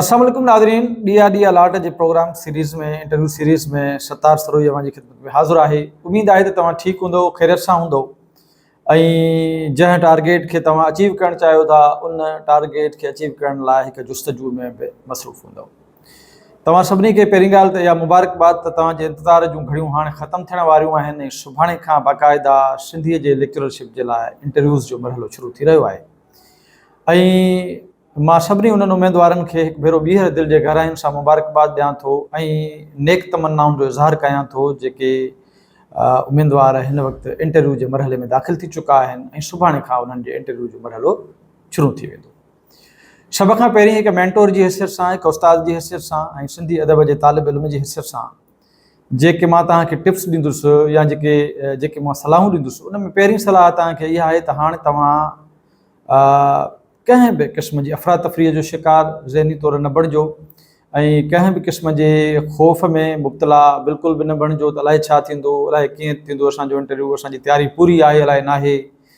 السلام عليڪم ناظرين ڏيئا ڏيئا لاٽ جي programme series ۾ interview series ۾ Sattar Sirohi اوهان جي خدمت ۾ حاضر آهي اميد آهي ته توهان ٺيڪ هوندو خيريت سان هوندو ۽ جنهن ٽارگيٽ کي توهان اچيو ڪرڻ چاهيو ٿا ان ٽارگيٽ کي اچيو ڪرڻ لاء هڪ جستجو ۾ به مصروف هوندو توهان سڀني کي پهرين ڳالهه ته اها مبارڪباد ته توهان جي انتظار جون گهڙيون هاڻي ختم ٿيڻ واريون آهن ۽ سڀاڻي کان باقاعده سنڌيء جي ليڪچررشپ جي لاء انٽرويوز جو مرحلو شروع ٿي رهيو آهي ۽ مان سڀني انهن اميدوارن کي هڪ ڀيرو ٻيهر دل جي گهراين سان مبارڪباد ڏيان ٿو ۽ نيڪ تمنائن جو اظهار ڪيان ٿو جيڪي اميدوار هن وقت انٽرويو جي مرحلي ۾ داخل ٿي چڪا آهن ۽ سڀاڻي کان انهن جي انٽرويو جو مرحلو شروع ٿي ويندو سڀ کان پهرين هڪ مينٽور جي حيثيت سان، هڪ استاد جي حيثيت سان ۽ سنڌي ادب جي طالب علم جي حيثيت سان جيڪي مان توهان کي ٽپس ڏيندس يا جيڪي جيڪي مان صلاحون ڏيندس ان ۾ پهرين صلاح توهان کي اها آهي ته هاڻي توهان ڪنهن به قسم جي افراتفريء جو شڪار ذهني طور نه بڻجو ۽ ڪنهن به قسم جي خوف ۾ مبتلا بلڪل به نه بڻجو ته الائي ڇا ٿيندو الائي ڪيئن ٿيندو اسان جو انٽرويو اسان جي تياري پوري آهي الائي ناهي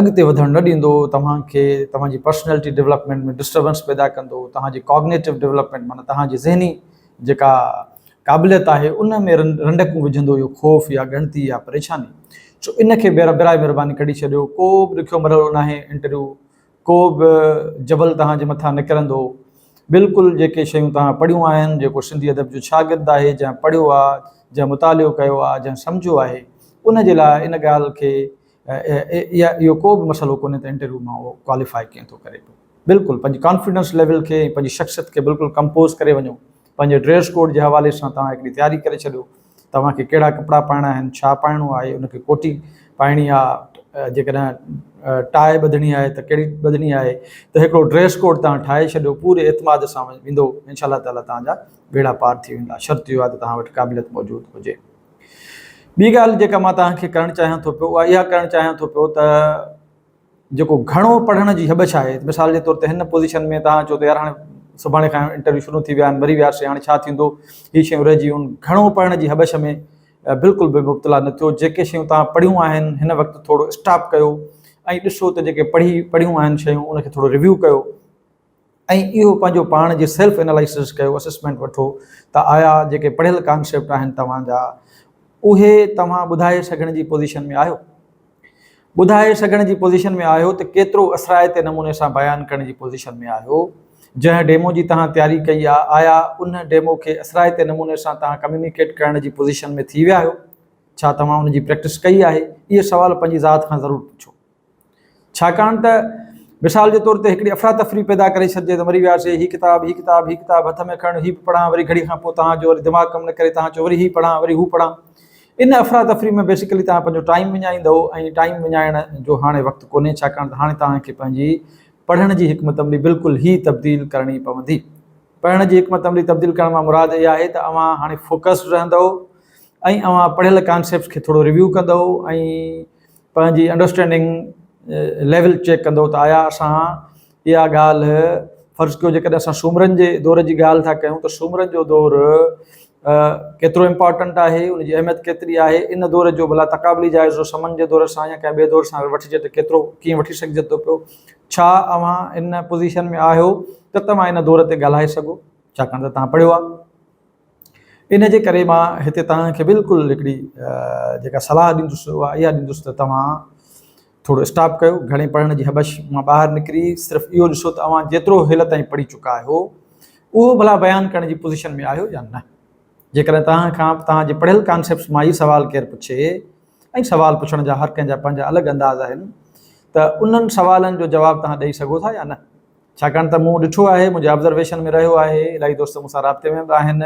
اڳتي وڌڻ نه ڏيندو، توهان کي توهان جي پرسنيلٽي ڊولپمينٽ ۾ ڊسٽربنس پيدا ڪندو، توهان جي ڪاگنيٽو ڊولپمينٽ معنيٰ توهان جي ذهني جيڪا قابليت آهي ان ۾ رنڊڪون وجهندو اهو خوف يا ڳڻتي يا پريشاني. سو ان کي برائي مهرباني ڪڍي ڇڏيو، ڪو به ڏکيو مرحلو ناهي انٽرويو ڪو به جبل توهان جي مٿان نڪرندو. بلڪل جيڪي شيون توهان پڙهيون آهن، جيڪو سنڌي ادب جو شاگرد آهي، جنهن پڙهيو آ، جنهن مطالعو ڪيو آ، جنهن سمجهيو آهي، ان جي لاء ان ڳالهه کي يا اهو ڪو به مسئلو ڪونهي ته انٽرويو مان اهو ڪواليفاء ڪيئن ٿو ڪري پيو. بلڪل پنهنجي ڪانفيڊنس ليول کي ۽ پنهنجي شخصيت کي بلڪل ڪمپوز ڪري وڃو. پنهنجي ڊريس ڪوڊ جي حوالي سان توهان هڪڙي تياري ڪري ڇڏيو توهان کي ڪهڙا ڪپڙا پائڻا آهن ڇا پائڻو آهي ان کي ڪوٽي پائڻي آهي جيڪڏهن ٽاء ٻڌڻي آهي ته ڪهڙي ٻڌڻي آهي ته هڪڙو ڊريس ڪوڊ توهان ٺاهي ڇڏيو پوري اعتماد سان ويندو انشاء الله تعالي توهان جا ٻيڙا پار ٿي ويندا شرط اهو آهي ته توهان وٽ قابليت موجود هجي ٻي ڳالهه جيڪا مان توهان کي ڪرڻ چاهيان ٿو پيو اها اها ڪرڻ چاهيان ٿو پيو ته جيڪو گهڻو پڙهڻ جي هٻڇ آهي، مثال جي طور تي هن پوزيشن ۾ توهان چئو ته يار هاڻي سڀاڻي کان انٽرويو شروع ٿي ويا آهن، مري وياسي، هاڻي ڇا ٿيندو، هي شيون رهجي ويون، گهڻو پڙهڻ جي هٻڇ ۾ بلڪل به مبتلا نه ٿيو، جيڪي شيون توهان پڙهيون آهن، هن وقت ٿورو اسٽاپ ڪيو ۽ ڏسو ته جيڪي پڙهي پڙهيون آهن شيون ان کي ٿورو ريويو ڪيو. ۽ اهو پنهنجو پاڻ جي سيلف انالائسز ڪيو، اسسمينٽ وٺو ته آيا جيڪي پڙهيل ڪانسيپٽ آهن توهان جا اهي توهان ٻڌائي سگهڻ جي پوزيشن ۾ آهيو؟ ٻڌائي سگهڻ جي پوزيشن ۾ آهيو ته ڪيترو اثرائتي نموني سان بيان ڪرڻ جي پوزيشن ۾ آهيو؟ جنهن ڊيمو جي توهان تياري ڪئي آهي آيا ان ڊيمو کي اثرائتي نموني سان توهان ڪميونيڪيٽ ڪرڻ جي پوزيشن ۾ ٿي ويا آهيو؟ ڇا توهان ان جي پريڪٽس ڪئي آهي؟ اهي سوال پنهنجي ذات کان ضرور پڇو. ڇاڪاڻ ته مثال جي طور تي هڪڙي افراتفري پيدا ڪري ڇڏجي ته مري وياسي، هي ڪتاب، هي ڪتاب، هي ڪتاب هٿ ۾ کڻ، هي به پڙهان، وري گهڙي کان پوء توهان جو وري دماغ ڪم نه ڪري، توهان چئو وري هي پڙهان، وري هو پڙهان. ان افراتفري ۾ بيسيڪلي توهان پنهنجو ٽائيم وڃائيندؤ ۽ ٽائيم وڃائڻ جو هاڻي وقت ڪونهي ڇاڪاڻ ته هاڻي توهان کي پنهنجي پڙهڻ جي حڪمت عملي بلڪل ئي تبديل ڪرڻي پوندي. پڙهڻ جي حڪمت عملي تبديل ڪرڻ مان مراد اها آهي ته اوهان هاڻي فوڪسڊ رهندؤ ۽ اوهان پڙهيل ڪانسيپٽس کي ٿورو ريويو ڪندؤ ۽ پنهنجي انڊرسٽينڊنگ ليول چيڪ ڪندو ته آيا اسان اها ڳالهه فرض ڪيو جيڪڏهن اسان سومرن جي دور جي ڳالهه ٿا ڪيون ته سومرن جو دور ڪيترو امپارٽنٽ آهي ان جي اهميت ڪيتري آهي ان دور جو ڀلا تقابلي جائزو سمن جي دور سان يا ڪنهن ٻئي دور سان وٺجي ته ڪيترو ڪيئن وٺي سگهجي ٿو پيو ڇا اوهان ان پوزيشن ۾ آهيو ته توهان ان دور تي ڳالهائي سگهو ڇاڪاڻ ته توهان پڙهيو آهي ان جي ڪري مان هتي توهان کي بلڪل هڪڙي جيڪا صلاح ڏيندس اها اها ڏيندس ته توهان ٿورو اسٽاپ ڪيو گهڻي پڙهڻ جي هٻش مان ٻاهر نڪري صرف اهو ڏسو ته اوهان جيترو هيل تائين پڙهي چڪا آهيو اهو ڀلا بيان ڪرڻ جي پوزيشن ۾ آهيو يا نه جيڪڏهن توهان کان توهان جي پڙهيل ڪانسيپٽس مان هي سوال ڪير پڇي ۽ سوال پڇڻ جا هر ڪنهن جا پنهنجا الڳ انداز آهن ته انهن سوالن جو جواب توهان ڏئي سگهو ٿا يا نه ڇاڪاڻ ته مون ڏٺو آهي، منهنجي آبزرويشن ۾ رهيو آهي، الائي دوست مون سان رابطي ۾ به آهن،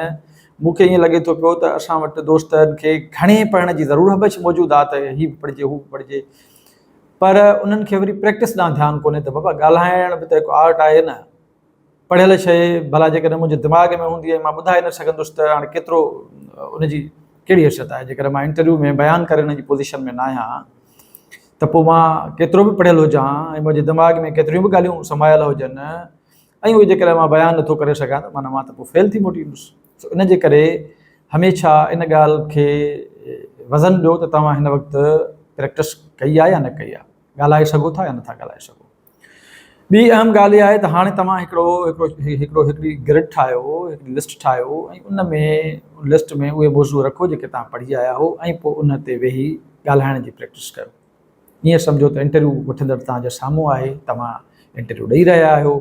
مون کي ائين لڳي ٿو پيو ته اسان وٽ دوستن کي گهڻي پڙهڻ جي ضرور هٻڇ موجود آ ته هي به پڙهجي هو به پڙهجي پر انهن کي وري پريڪٽس ڏانهن ڌيان ڪونهي ته بابا ڳالهائڻ به ته هڪ آرٽ آهي نه، پڙهيل شيء ڀلا جيڪڏهن منهنجي دماغ ۾ هوندي ۽ مان ٻڌائي نه سگهندس ته هاڻي ڪيترو ان جي ڪهڙي حيثيت آهي جيڪڏهن مان انٽرويو ۾ بيان ڪرڻ جي پوزيشن ۾ نه آهيان ته پوء مان ڪيترو به پڙهيل هجان ۽ منهنجي دماغ ۾ ڪيتريون به ڳالهيون سمايل هجن ۽ اهي جيڪڏهن مان بيان نٿو ڪري سگهان ته معنيٰ مان ته پوء فيل ٿي موٽي ايندس. سو ان جي ڪري هميشه ان ڳالهه کي وزن ڏيو ته توهان هن وقت پريڪٽس ڪئي آهي يا نه ڪئي آهي، ڳالهائي سگهو ٿا يا نٿا ڳالهائي سگهو. ٻي اهم ڳالهه اها آهي ته هاڻي توهان هڪڙو هڪڙو هڪڙي گرڊ ٺاهيو، هڪڙي لسٽ ٺاهيو ۽ ان ۾ لسٽ ۾ اهي موضوع رکو جيڪي توهان پڙهي آيا هئو ۽ پوء ان تي ويهي ڳالهائڻ جي پريڪٽس ڪيو. ائين سمجهو ته انٽرويو وٺندڙ توهان جي سامهون آهي، توهان انٽرويو ڏئي رهيا آهيو.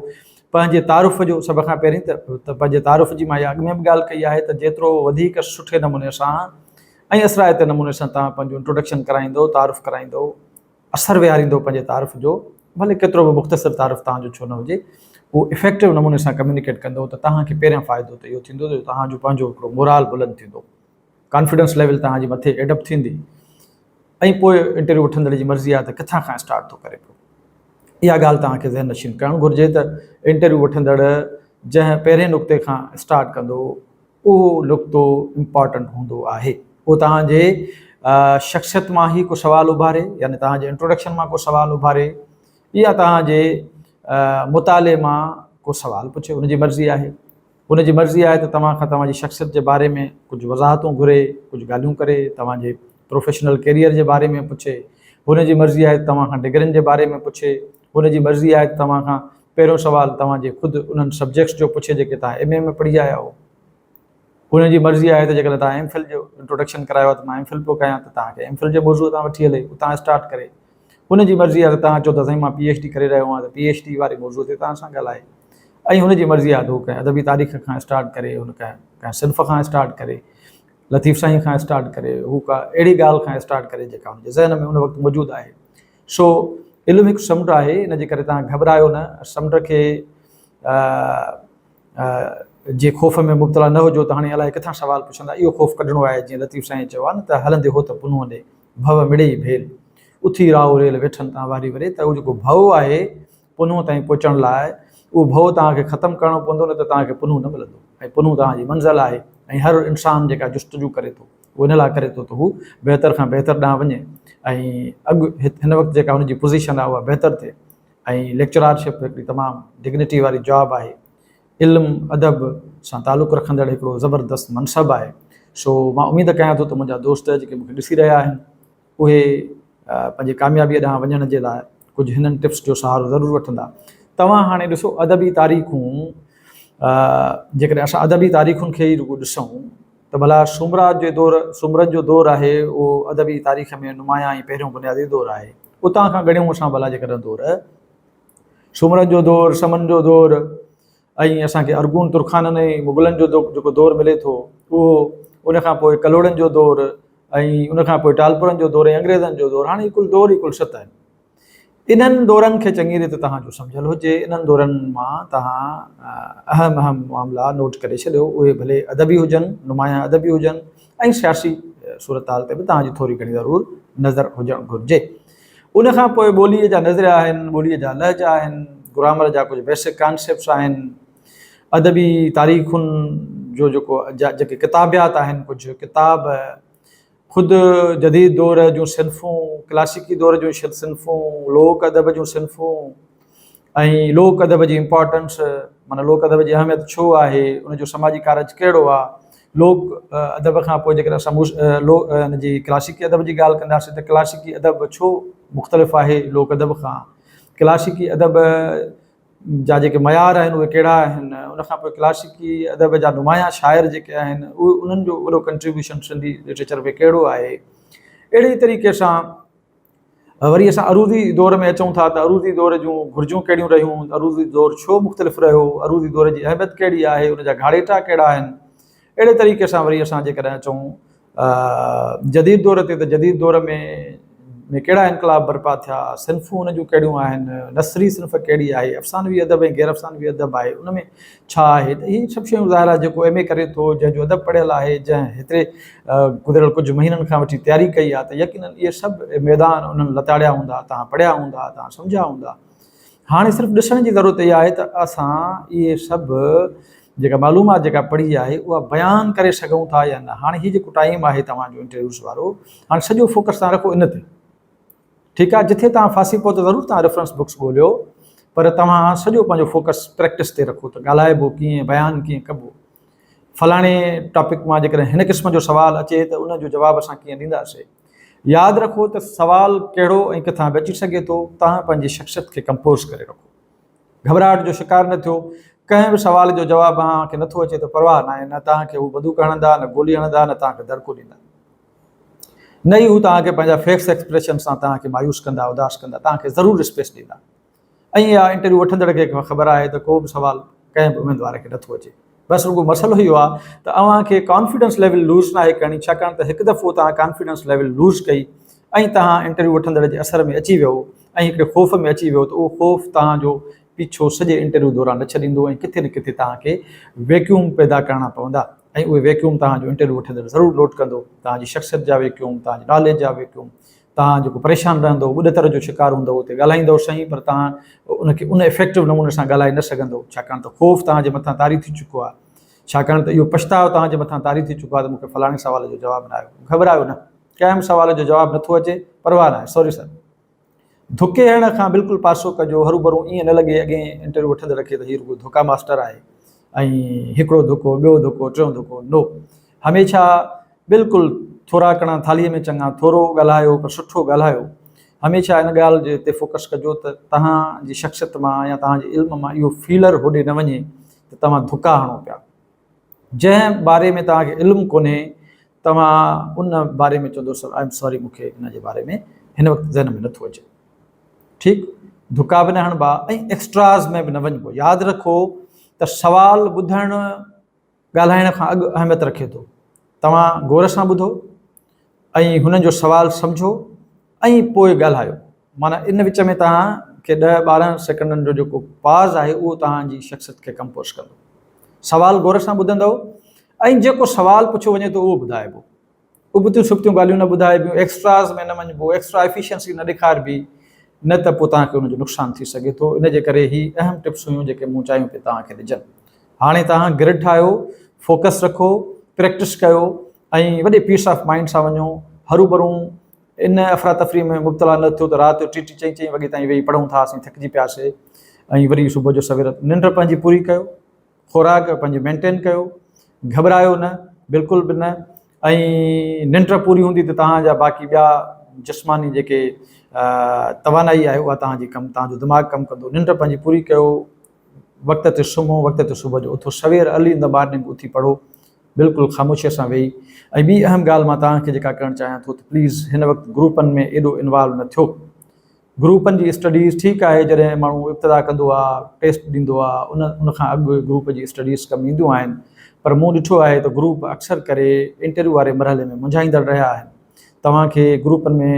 پنهنجي تعارف جو سڀ کان پهرين ته پنهنجي تعارف جي مان اها اڳ ۾ به ڳالهه ڪئي آهي ته جيترو وڌيڪ سٺي نموني سان ۽ اثرائتي نموني سان توهان پنهنجو انٽروڊڪشن ڪرائيندو، تعارف ڪرائيندو، اثر ويهاريندو پنهنجي تعارف جو، ڀلي ڪيترو به مختصر تعارف توهان جو ڇو نه هجي، اهو افيڪٽو نموني سان ڪميونيڪيٽ ڪندو ته توهان کي پهريان فائدو ته اهو ٿيندو جو توهان جو پنهنجو هڪڙو مورال بلند ٿيندو، ڪانفيڊنس ليول توهان جي مٿي ايڊپ ٿيندي ۽ پوء انٽرويو وٺندڙ جي مرضي آهي ته ڪٿان کان اسٽارٽ ٿو ڪري پيو. اها ڳالهه توهان کي ذهن نشين ڪرڻ گهرجي ته انٽرويو وٺندڙ جنهن پهرين نقطي کان اسٽارٽ ڪندو، اهو نقطو امپارٽنٽ هوندو آهي. اهو توهان جي شخصيت مان هي ڪو سوال اڀاري يعني توهان جي انٽروڊڪشن مان ڪو سوال اڀاري يا توهان جي مطالعي مان ڪو سوال پڇي ان جي مرضي آهي. ان جي مرضي آهي ته توهان کان توهان جي شخصيت جي باري ۾ ڪجهه وضاحتون گهري ڪجهه ڳالهيون ڪري توهان جي پروفيشنل ڪيريئر جي باري ۾ پڇي، هن جي مرضي آهي ته توهان کان ڊگرين جي باري ۾ پڇي، هن جي مرضي آهي ته توهان کان پهريون سوال توهان جي خود انهن سبجيڪٽس جو پڇي جيڪي توهان ايم اي ۾ پڙهي آيا آهو، هن جي مرضي آهي ته جيڪڏهن توهان ايم فل جو انٽروڊڪشن ڪرايو آهي ته مان ايم فل پيو ڪيان ته توهان کي ايم فل جي موضوع تان وٺي هلي اتان اسٽارٽ ڪري، هن جي مرضي آهي ته توهان چئو ٿا سائين مان پي ايڇ ڊي ڪري رهيو آهيان ته پي ايڇ ڊي واري موضوع تي توهان سان ڳالهائي ۽ هن جي مرضي آهي ته هو ڪنهن ادبي تاريخ کان اسٽارٽ ڪري هن ڪنهن صنف کان اسٽارٽ ڪري لطيف سائين کان اسٽارٽ ڪري هو ڪا اهڙي ڳالهه کان اسٽارٽ ڪري جيڪا هن جي ذهن ۾ ان وقت موجود آهي سو علم هڪ سمنڊ آهي ان جي ڪري تان گهٻرايو نه سمنڊ کي جي خوف ۾ مبتلا نه هجو ته هاڻي الائي ڪٿان سوال پڇندا اهو خوف ڪڍڻو آهي جيئن لطيف سائين چيو آهي نه ته هلندي هو ته پنهون ڏي ڀؤ مڙي ڀيل اٿي راهو ريل ويٺن تان واري وري ته اهو جيڪو ڀؤ آهي پنهون تائين پهچڻ لاء اهو ڀؤ توهان کي ختم ڪرڻو پوندو نه ته توهان کي پنهون نه ملندو ۽ پنهون توهان جي منزل آهي ۽ هر انسان جيڪا جستجو ڪري ٿو اهو ان لاء ڪري ٿو ته هو بهتر کان بهتر ڏانهن وڃي ۽ اڳ هن وقت جيڪا هن جي پوزيشن آهي اها بهتر ٿئي ۽ ليڪچرارشپ هڪڙي تمام ڊگنيٽي واري جاب آهي علم ادب سان تعلق رکندڙ هڪڙو زبردست منصب آهي سو مان اميد ڪيان ٿو ته منهنجا دوست جيڪي مون کي ڏسي رهيا آهن اهي پنهنجي ڪاميابيء ڏانهن وڃڻ جي لاء ڪجهه هنن ٽپس جو سهارو ضرور وٺندا. توهان هاڻي ڏسو ادبي تاريخون جيڪڏهن اسان ادبي تاريخن کي ئي رڳو ڏسون ته ڀلا سومراج جي دور سومرن جو دور آهي اهو ادبي تاريخ ۾ نمايان ۽ پهريون بنيادي دور آهي اتان کان ڳڻيون اسان ڀلا جيڪڏهن دور سومرن جو دور سمن جو دور ائين اسان کي ارغون ترخانن ۽ مغلن جو جيڪو دور ملي ٿو اهو ان کان پوء ڪلهوڙن جو دور ۽ ان کان پوء ٽالپرن جو دور ۽ انگريزن جو دور هاڻي ڪل دور ئي ڪل ست آهن انهن دورن کي چڱي ريت توهان جو سمجهيل هجي انهن دورن مان توهان اهم اهم معاملا نوٽ ڪري ڇڏيو اهي ڀلي ادبي هجن نمايان ادبي هجن ۽ سياسي صورتحال تي به توهان جي ٿوري گهڻي ضرور نظر هجڻ گهرجي ان کان پوء ٻوليء جا نظريا آهن، ٻوليء جا لهجا آهن، گرامر جا ڪجهه بيسڪ ڪانسيپٽس آهن، ادبي تاريخن جو جيڪو جيڪي ڪتابيات آهن، ڪجهه ڪتاب، خود جديد دور جون صنفون، ڪلاسيڪي دور جون صنفون، لوڪ ادب جون صنفون، ۽ لوڪ ادب جي امپارٽنس معنيٰ لوڪ ادب جي اهميت ڇو آهي، ان جو سماجي ڪارج ڪهڙو آهي، لوڪ ادب کان پوء جيڪڏهن اسان ان جي ڪلاسيڪي ادب جي ڳالهه ڪنداسين ته ڪلاسيڪي ادب ڇو مختلف آهي لوڪ ادب کان، ڪلاسيڪي ادب جا جيڪي معيار آهن اهي ڪهڙا آهن، ان کان پوء ڪلاسيڪي ادب جا نمايان شاعر جيڪي آهن اهي انهن جو وڏو ڪنٽريبيوشن سنڌي لٽريچر ۾ ڪهڙو آهي، اهڙي طريقي سان وري اسان عروضي دور ۾ اچون ٿا ته عروضي دور جون گهرجون ڪهڙيون رهيون، عروضي دور ڇو مختلف رهيو، عروضي دور جي اهميت ڪهڙي آهي، ان جا گهاڙيٽا ڪهڙا آهن. اهڙي طريقي سان وري اسان جيڪڏهن اچون جديد دور تي ته جديد دور ۾ ۾ ڪهڙا انقلاب برپا ٿيا، صنفون ان جون ڪهڙيون آهن، نثري صنف ڪهڙي آهي، افسانوي ادب ۽ غيرافسانوي ادب آهي، ان ۾ ڇا آهي ته اهي سڀ شيون ظاهر آهي جيڪو ايم اي ڪري ٿو جنهن جو ادب پڙهيل آهي جنهن هتي گذريل ڪجهه مهينن کان وٺي تياري ڪئي آهي ته يقينن اهي سڀ ميدان انهن لتاڙيا هوندا تان پڙهيا هوندا تان سمجهيا هوندا هاڻي صرف ڏسڻ جي ضرورت اها آهي ته اسان اهي سڀ جيڪا معلومات جيڪا پڙهي آهي اها بيان ڪري سگهون ٿا يا نه هاڻي هي جيڪو ٽائيم آهي توهان جو انٽرويوز وارو هاڻي سڄو فوڪس تان رکو ان تي ٺيڪ آهي جٿي توهان ڦاسي پئو ته ضرور توهان ريفرنس بڪس ڳوليو پر توهان سڄو پنهنجو فوڪس پريڪٽس تي رکو ته ڳالهائبو ڪيئن بيان ڪيئن ڪبو فلاڻي ٽاپڪ مان جيڪڏهن هن قسم جو سوال اچي ته ان جو جواب اسان ڪيئن ڏينداسي ياد رکو ته سوال ڪهڙو ۽ ڪٿان به اچي سگهي ٿو توهان پنهنجي شخصيت کي ڪمپوز ڪري رکو گهٻراهٽ جو شڪار نه ٿيو ڪنهن به سوال جو جواب اوهان کي نٿو اچي ته پرواهه ناهي نه توهان کي هو بندوق هڻندا نه گولي هڻندا نه توهان کي دڙڪو ڏيندا نه ئي هو توهان کي پنهنجا فيس ايڪسپريشن سان توهان کي مايوس ڪندا، اداس ڪندا، توهان کي ضرور اسپيس ڏيندا ۽ اها انٽرويو وٺندڙ کي خبر آهي ته ڪو به سوال ڪنهن به اميدوار کي نٿو اچي بس رڳو مسئلو اهو آهي ته اوهان کي ڪانفيڊنس ليول لوز ناهي ڪرڻي ڇاڪاڻ ته هڪ دفعو توهان ڪانفيڊنس ليول لوز ڪئي ۽ توهان انٽرويو وٺندڙ جي اثر ۾ اچي ويو ۽ هڪڙي خوف ۾ اچي ويو ته اهو خوف توهان جو پيڇو سڄي انٽرويو دوران نه ڇڏيندو ۽ ڪٿي نه ڪٿي توهان کي ويڪيوم پيدا ڪرڻا پوندا ۽ اهي ويڪيوم توهان جو انٽرويو وٺندڙ ضرور نوٽ ڪندو، توهان جي شخصيت جا ويڪيوم، توهان جي ناليج جا ويڪيوم، توهان جيڪو پريشان رهندؤ، ٻڏتر جو شڪار هوندؤ اتي ڳالهائيندؤ سهي پر توهان ان کي ان افيڪٽو نموني سان ڳالهائي نه سگهندؤ ڇاڪاڻ ته خوف توهان جي مٿان طاري ٿي چڪو آهي ڇاڪاڻ ته اهو پڇتاء توهان جي مٿان طاري ٿي چڪو آهي ته مون کي فلاڻي سوال جو جواب نه آيو، گهٻرايو نه ڪنهن به سوال جو جواب نٿو اچي پرواهه ناهي سوري سر. ڌڪي هڻڻ کان بلڪل پاسو ڪجو، هروڀرو ائين نه لڳي اڳئين انٽرويو وٺندڙ کي ته هي رڳو ڌڪا ماستر آهي ۽ هڪڙو ڌڪو، ٻيو ڌڪو، ٽيون ڌڪو، نو! هميشه بلڪل ٿورا ڪڻا ٿالهيء ۾ چڱا، ٿورو ڳالهايو پر سٺو ڳالهايو. هميشه ان ڳالهه جي تي فوڪس ڪجو ته توهان جي شخصيت مان يا توهان جي علم مان اهو فيلر هوڏي نه وڃي ته توهان ڌڪا هڻو پيا. جنهن باري ۾ توهان کي علم ڪونهي توهان ان باري ۾ چوندو سر آء ايم ساري مون کي ان جي باري ۾ هن وقت ذهن ۾ نٿو اچي ٺيڪ ڌڪا به نه هڻبا ۽ ايڪسٽراز ۾ به نه وڃبو ياد رکو ته سوال ٻڌڻ ڳالهائڻ کان اڳ اهميت رکي ٿو توهان غور سان ٻڌو ۽ هنن جو سوال سمجھو ائين پوء ڳالهايو. معنيٰ ان وچ ۾ توهان کي ڏهه ٻارهن سيڪنڊن جو جيڪو پاز آهي اهو توهان جي شخصيت کي ڪمپوز ڪندو. سوال غور سان ٻڌندؤ ۽ جيڪو سوال پڇيو وڃي ٿو اهو ٻڌائبو. ابتيون سبتيون ڳالهيون نه ٻڌائبيون، ايڪسٽراز ۾ نه وڃبو، ايڪسٽرا ايفيشنسي نه ڏيکاربي نه ته پوء توهان کي ان جو نقصان ٿي سگهي ٿو. ان جي ڪري هي اهم ٽپس هيون جيڪي مون چاهيون پئي توهان کي ڏجن. هاڻي توهان گرڊ ٺاهيو، فوڪس رکو، پريڪٽس ڪيو. ۽ وڏي پيس آف مائنڊ سان وڃو، هروڀرون ان افراتفري ۾ مبتلا نه ٿيو ته رات جو ٽي ٽي چئين چئين وڳي تائين ويهي پڙهون ٿا اسين ٿڪجي پياسي ۽ وري صبح جو سوير ننڊ پنهنجي پوري ڪيو، خوراڪ پنهنجي مينٽين ڪيو، گهٻرايو نه بلڪل به نه ۽ ننڊ پوري هوندي ته توهان جا باقي ٻيا جسماني جيڪي توانائي آهي اها توهان جي ڪم توهان جو دماغ ڪم ڪندو ننڊ پنهنجي پوري ڪيو، وقت تي سمهو، وقت تي صبح جو اٿو، سوير ارلي ان دي مارننگ اٿي پڙهو. بلڪل خاموشيء سان ويهي ۽ ٻي اهم ڳالهه مان توهان کي جيڪا ڪرڻ چاهيان ٿو ته پليز هن وقت گروپن ۾ ايڏو انوالو نه ٿيو. گروپن جي اسٽڊيز ٺيڪ آهي جڏهن ماڻهو ابتدا ڪندو آهي ٽيسٽ ڏيندو آهي ان کان اڳ گروپ جي اسٽڊيز ڪم اينديون آهن پر مون ڏٺو آهي ته گروپ اڪثر ڪري انٽرويو واري مرحلي ۾ منجهائيندڙ رهيا آهن توهان کي گروپن ۾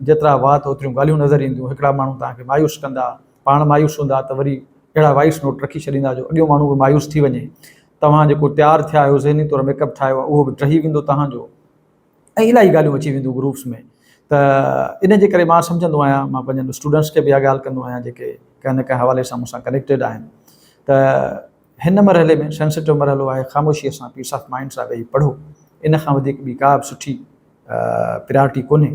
جيترا وات اوتريون ڳالهيون نظر اينديون هڪڙا ماڻهو توهان کي مايوس ڪندا پاڻ مايوس هوندا ته وري اهڙا وائس نوٽ رکي ڇڏيندا جو اڳيون ماڻهو به مايوس ٿي وڃي توهان جيڪو تيار ٿيا آهيو ذهني طور ميڪ اپ ٺاهيو اهو به ٽهي ويندو توهان جو ۽ الاهي ڳالهيون اچي وينديون گروپس ۾ ته ان جي ڪري مان سمجهندو آهيان مان پنهنجن اسٽوڊنٽس کي به اها ڳالهه ڪندو آهيان جيڪي ڪنهن نه ڪنهن حوالي سان مون سان ڪنيڪٽيڊ آهن ته هن مرحلي ۾ سينسيٽو مرحلو آهي خاموشيء سان پيس آف مائنڊ سان ويهي پڙهو ان کان وڌيڪ ٻي ڪا به سٺي پريارٽي ڪونهي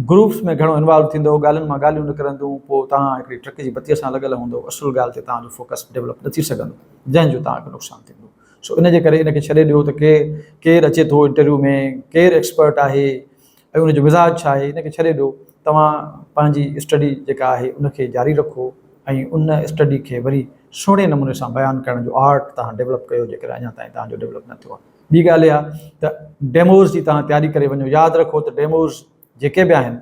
گروپس ۾ گهڻو انوالو ٿيندو ڳالهين مان ڳالهيون نڪرنديون پوء توهان هڪڙي ٽرڪ جي بتيء سان لڳل هوندو اصل ڳالهه تي توهان جو فوڪس ڊولپ نه ٿي سگهندو جنهن جو توهان کي نقصان ٿيندو سو ان جي ڪري ان کي ڇڏي ڏيو ته ڪير ڪير اچي ٿو انٽرويو ۾ ڪير ايڪسپرٽ آهي ۽ ان جو مزاج ڇا آهي ان کي ڇڏي ڏيو توهان پنهنجي اسٽڊي جيڪا آهي ان کي جاري رکو ۽ ان اسٽڊي کي وري سهڻي نموني سان بيان ڪرڻ جو آرٽ توهان ڊولپ ڪيو جيڪڏهن اڃا تائين توهان جو ڊولپ نه ٿيو آهي ٻي ڳالهه اها ته ڊيموز جي توهان تياري ڪري وڃو ياد رکو ته ڊيموز جيڪي به آهن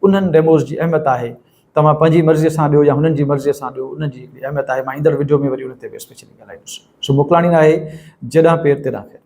انهن ڊيموز جي اهميت آهي توهان پنهنجي مرضي سان ڏيو يا هنن جي مرضي سان ڏيو ان جي هڪڙي اهميت آهي مان ايندڙ وڊيو ۾ وري ان تي به اسپيشلي ڳالهائيندس سو موڪلاڻي ناهي جيڏانهن پير تيڏانهن خير.